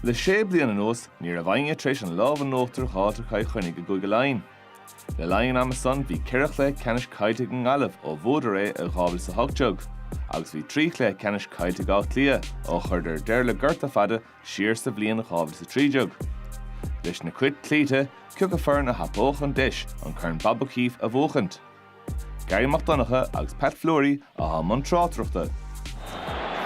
Le sé bliana anuas ní raibh éinne tar éis an lámh in uachtar a fháilt ar Chill Chainnigh i gCúige Laighean. Le linn an ama san bhí ceithre chluiche ceannais caillte ag an nGaillimh ó bhuadar é i 2018 agus bhí trí chluiche ceannais caillte ag Áth Cliath ó chuireadar deireadh le gorta fada siar sa bhliain 2013. Leis na Cait cloíte cioca foireann a thapódh an deis an Corn Bob O'Keeffe a bhuachaint. Garry Mac Donncha agus Pat Fleury atá i mbun tráchtaireachta.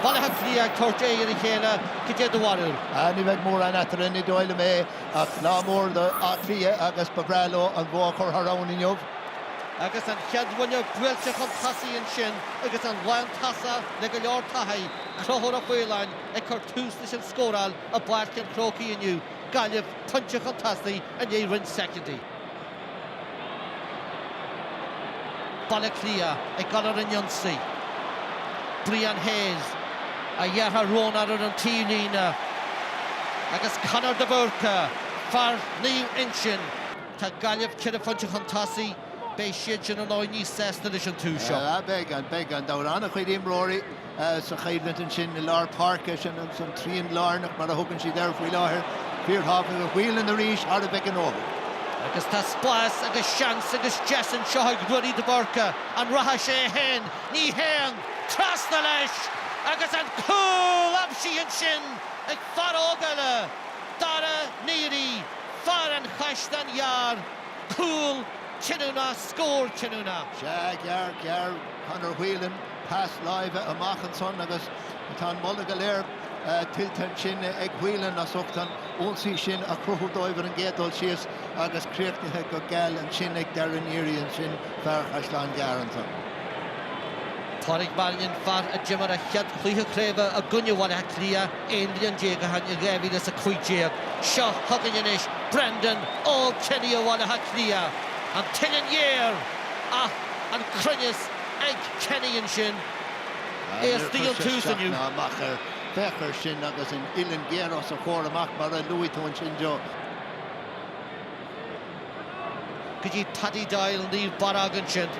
Baile Átha Cliath ag tabhairt aghaidh ar a chéile, cad é do bharúil? Ní bheidh mórán eatarthu, ní dóigh liom é, ach lá mór d'Áth Cliath agus ba bhreá leo an bua a chur thar abhainn inniu. Agus an chéad bhuille buailte chun tosaigh ansin agus an lántosaí le go leor taithí, Conchúr Ó Faoláin ag cur tús leis an scóráil i bPáirc an Chrócaigh inniu, Gaillimh pointe chun tosaigh i ndiaidh roinnt soicindí. Baile Átha Cliath ag dul ar an ionsaí. Brian Hayes, a dheartháir Rónán ar an taobhlíne agus Conor de Búrca, fear Naomh Uinseann. Tá Gaillimh ceithre phointe chun tosaigh. Beidh siad sin, ar ndóigh, níos sásta leis an tús seo. Beidh an beidh an dobhrán a chuid imreoirí. sa choimhlint ansin i lár páirce. Sin an trian lárnach mar a thugann siad air faoi láthair. Fíorthábhachtach. Whelan arís thar a bheith gnóthach. Agus tá spás agus seans agus deis anseo ag Ruairí de Búrca. An rachaidh sé é féin? Ní théann! Trasna leis agus an cúl! Aimsithe ansin ag fear óg eile, Darragh Neary, fear an Chaisleáin Ghearr. Cúl cinniúnach, scór cinniúnach. Sea, gearr, gearr Conor Whelan. Pas láimhe amach ansan agus tá an moladh go léir tuillte ansin ag Whelan as ucht an ionsaí sin a chruthú dóibh ar an gcéad dul síos agus críochnaithe go geal ansin ag Darragh Neary ansin, fear Chaisleán Gearr ansan. Pádraic Mannion, fear a d'imir a chéad chluiche craoibhe i gcoinne Bhaile Átha Cliath 11 bliain ó shin in 2015. Seo chugainn anois Brendan Kenny ó Bhaile Átha Cliath. An t-uillinn ghéar ach an cruinneas ag Kenny ansin. É istigh ó thús inniu. Níor chuir sé isteach ná amach air. Féach air sin agus an uillinn ghéar os a chomhair amach mar a luaigh tú ansin Joe. go dtí Paddy Doyle Naomh Barróg ansin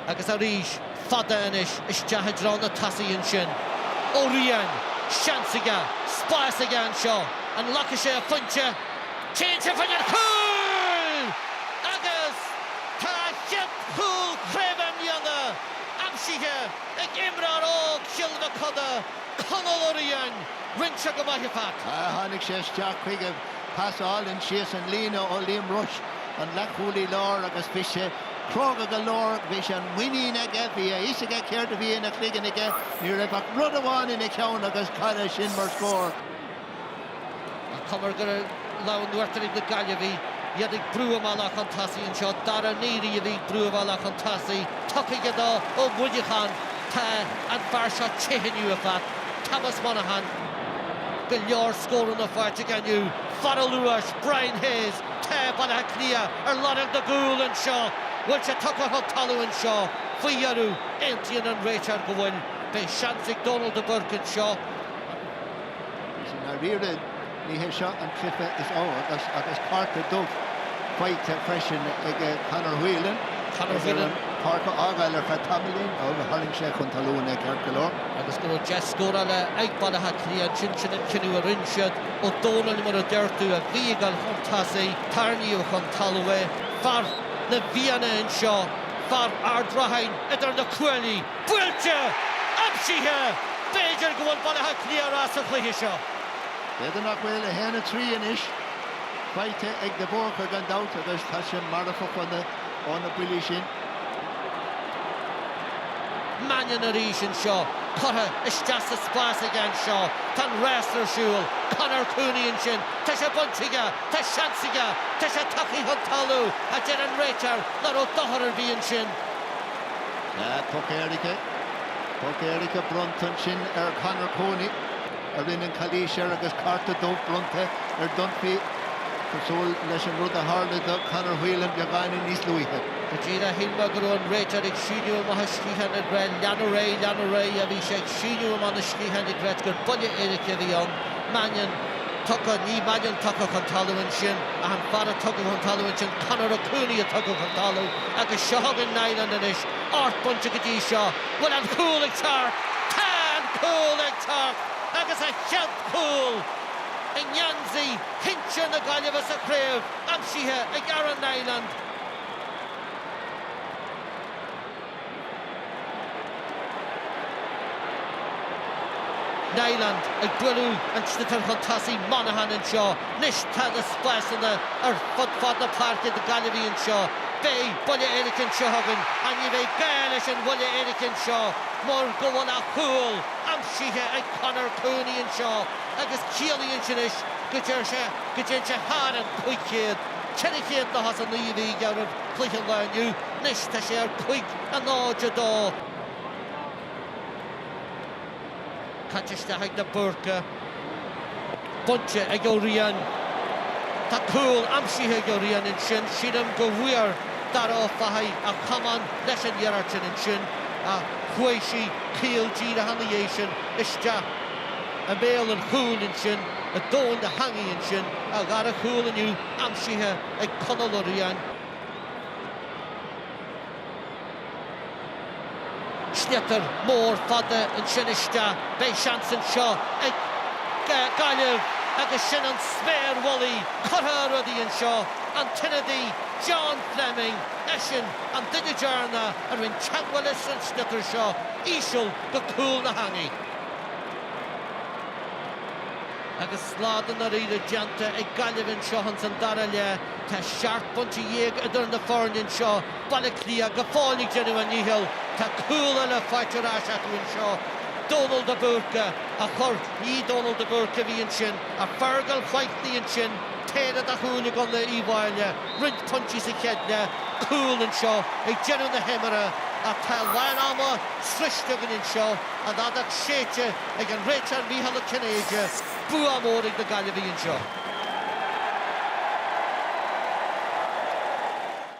agus arís fada anois isteach i dtreo na tosaithe ansin. Ó Riain, seans aige, spás aige anseo, an nglacfaidh sé a phointe? Téann sé faoin ar chúl! Agus tá a chéad. Cúl craoibhe i mbliana aimsithe ag imreoir óg Chill Mochuda, Conall Ó Riain, roinnte go maith acu. Tháinig sé isteach chuige, pas álainn síos an líne ó Liam Rushe, an leathchúlaí láir, agus bhí sé cróga go leor, bhí sé an muinín aige, bhí a fhios aige céard a bhí ina chloigeann aige, ní raibh ach rud amháin ina cheann agus cad é sin mar scór. An chuma go raibh lámh in uachtar ag na Gaillimhigh, iad ag brú a mbealach chun tosaigh anseo. Darragh Neary a bhí ag brú a bhealach chun tosaigh. Tugtha do Ó Muineacháin. Tá an fear seo te inniu, a Phat. Thomas Monaghan. Go leor scóranna faighte aige inniu. Fear an luais, Brian Hayes. Tá Baile Átha Cliath ar lorg na gcúl anseo. Bhfuil sé tugtha chun talaimh anseo? Faoi dheireadh, aontaíonn an réiteoir go bhfuil. Beidh seans ag Dónal Burke anseo. Agus i ndáiríre ní hé seo an cluiche is fearr agus cárta dubh faighte freisin ag Conor Whelan air an pháirc a fhágáil ar feadh tamaillín ó tharraing sé chun talún é ceart go leor. agus go raibh deis scórála ag Baile Átha Cliath ansin, sin an cinneadh a rinne siad. Ó Dónaill, mar a deir tú a bhí ag gabháil chun tosaigh, tarraingíodh chun talún é. Fear na bhFianna anseo, fear Ard Rathain idir na cuaillí! Buailte! Aimsithe! B'fhéidir go bhfuil Baile Átha Cliath ar ais sa chluiche seo. B'fhéidir nach bhfuil 1, 3 anois faighte ag De Búrca gan dabht agus tá sé marfach ó na buillí sin. Mannion arís anseo. Curtha isteach sa spás aige anseo. Tá an rás ar siúl. Conor Cooney ansin. Tá sé bainte aige. Tá seans aige. Tá sé tugtha chun talaimh, a deir an réiteoir, nach raibh dochar ar bith ansin. Tá poc éirice, poc éirice bronnta ansin ar Conor Cooney a rinneadh an chalaois air agus cárta dubh bronnta ar Dunphy cosúil leis an rud a tharla do Conor Whelan beagáinín níos luaithe. Go deimhin shíl mé go raibh an réiteoir ag síneadh amach a sciatháin ag rá 'Lean ar aghaidh, lean ar aghaidh', bhí sé ag síneadh amach na sciatháin ag rá gur buille éirice a bhí ann. Mannion tugtha, ní Mannion tugtha chun talamh ansin ach an fear a tugadh chun talamh ansin, Conor Cooney a tugadh chun talamh. Agus seo chugainn Niland anois, ocht bainte go dtí seo, bhfuil an cúl ag teacht? Tá an cúl ag teacht! Agus a chéad chúl i ngeansaí sinsir na Gaillimhe sa chraobh aimsithe ag Aaron Niland. Niland ag bualadh an sliotair chun tosaigh Monaghan anseo. Anois tá na spásanna ar fud fad na páirce do Ghaillimhigh anseo. Beidh buille éirice anseo chugainn ach ní bheidh gá leis an bhuille éirice anseo mar go bhfuil a chúl aimsithe ag Conor Cooney anseo agus ciallaíonn sin anois go dtéann sé thar an 500, 400 nó as 9 mhí dheireadh. cluiche lá inniu. Anois tá sé ar cúig a náid a dó. Caite isteach ag de Búrca. Bainte ag Ó Riain. Tá cúl aimsithe ag Ó Riain ansin. Sílim go bhfuair Dara Ó Fathaigh a chamán leis an iarracht ansin ach chuaigh sí caol díreach ina dhiaidh sin isteach i mbéal an chúil ansin. Go tóin na heangaí ansin. A dhara cúl inniu aimsithe. ag Conall Ó Riain. Sliotar mór fada ansin isteach. Beidh seans anseo ag Gaillimh agus sin an sméar mhullaigh curtha ar rudaí anseo. An t-ionadaí John Fleming, eisean an duine déanach a rinne teagmháil leis an sliotar seo. Íseal go cúl na heangaí. Agus slad i ndáiríre déanta ag Gaillimh anseo ins an dara leath, tá seacht bpointe déag idir na foirne anseo, Baile Átha Cliath go fóill ag déanamh a ndícheall. Tá cúl eile faighte ar ais acu anseo, Dónal de Búrca a chur, ní Dónal de Búrca a bhí ansin ach Fergal Whitely ansin, péire de chúil ag Conall Uí Mháille, roinnt pointí sa chéad leath, cúl anseo ag deireadh na himeartha ach tá lán ama sroichte againn anseo. An fheadóg séidte ag an réiteoir Micheál Ó Cinnéide, bua mór ag na Gaillimhigh anseo.